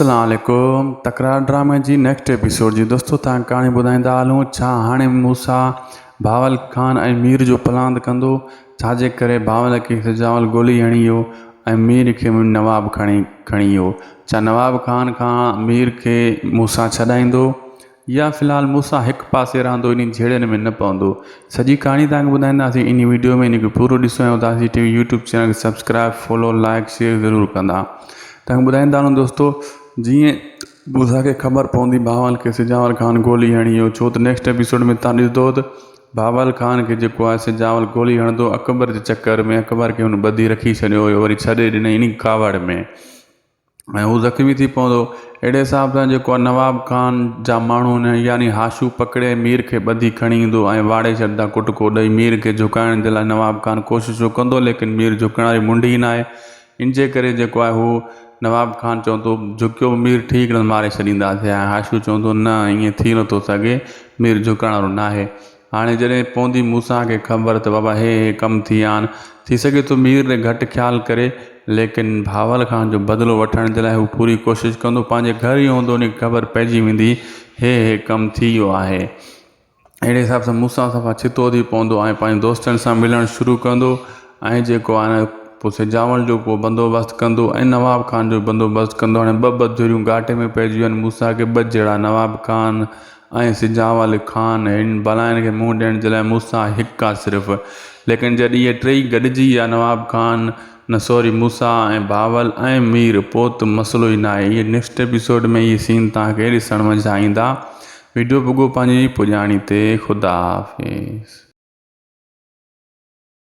السلام عليڪم تڪرار ڊرامي جي نيڪسٽ ايپيسوڊ جي دوستو تان ڪهاڻي ٻڌائيندا هلون ڇا هاڻي موسيٰ بهاول خان ۽ مير جو پلاند ڪندو ڇا جي ڪري بهاول کي سجاول گولي هڻي ويو ۽ مير کي نواب کڻي کڻي ويو ڇا نواب خان کان مير کي موسيٰ ڇڏائيندو يا في الحال مون سان هڪ پاسي رهندو انهن جهيڙين ۾ نه پوندو سڄي ڪهاڻي توهان کي ٻڌائينداسين انهي وڊيو ۾ انهي کي پورو ڏسو ۽ اداسي ٽي وي يوٽيوب چينل کي سبسڪرائب فالو لائيڪ شيئر ضرور ڪندا توهان کي ٻڌائيندا هلون دوستو جيئن بوزا کي خبر پوندي بهاول کي سجاول خان گولي هڻي ويو ڇو ته نيڪسٽ ايپيسوڊ ۾ توهان ڏسندو ته بهاول خان کي جيڪو آهي سجاول گولي هڻندو اڪبر جي چڪر ۾ اڪبر کي هن ٻڌي رکي ڇڏيو هيو وري ڇڏي ڏنئي انهي ڪاوڙ ۾ ۽ هو زخمي ٿي پوندو. اهڙي حساب سان جيڪو آهي نواب خان جا ماڻهو هن يعني هاشو پڪڙي مير کي ٻڌي کڻي ايندو ۽ واڙي ڇڏيندا ڪٽڪو ڏئي مير کي جهڪائڻ جي لاء نواب خان ڪوششون ڪندو ليڪن مير جهڪڻ واري منڍ ئي ناهي ان جي ڪري جيڪو آهي هو نواب خان چوندو جهڪيو به مير ٺيڪ رهندو ماري ڇڏينداسين ۽ هاشو چوندو نه ائين ٿي نٿو سگهي مير جهڪڻ وارو ناهي هاڻي جڏهن پوندي موسيٰ کي خبر ته بابا هي هي ڪم ٿي ويا آهن، ٿي سگهي ٿو مير تي گهٽ خيال ڪري، ليڪن بهاول خان جو بدلو وٺڻ جي لاء هو پوري ڪوشش ڪندو، پنهنجي گهر ئي هوندو، ان کي خبر پئجي ويندي هي هي ڪم ٿي ويو آهي. اهڙي حساب سان موسيٰ صفا ڇتو ٿي پوندو ۽ پنهنجي دوستن سان ملڻ شروع ڪندو ۽ جيڪو آهي نه پوء سجاول جو ڪو بندوبست ڪندو ۽ نواب خان جو بندوبست ڪندو، هاڻي ٻه ٻڌريون گهاٽي ۾ پئجي ويون آهن، موسيٰ کي ٻه جهڙا نواب خان. ائين سجاء علي خان هن بلائن کي منهن ڏيڻ جي لاء موسيٰ هڪ آ صرف. ليڪن جڏهن اهي ٽيئي گڏجي ويا نواب خان، نه سوري موسيٰ ۽ بهاول ۽ مير پوء ته مسئلو ئي ناهي. اهي نيڪسٽ ايپيسوڊ ۾ اهي سين توهان کي ڏسڻ ۾ ڇا ايندا. ويڊيو پڳو پنهنجي پڄاڻي تي. خدا حافظ.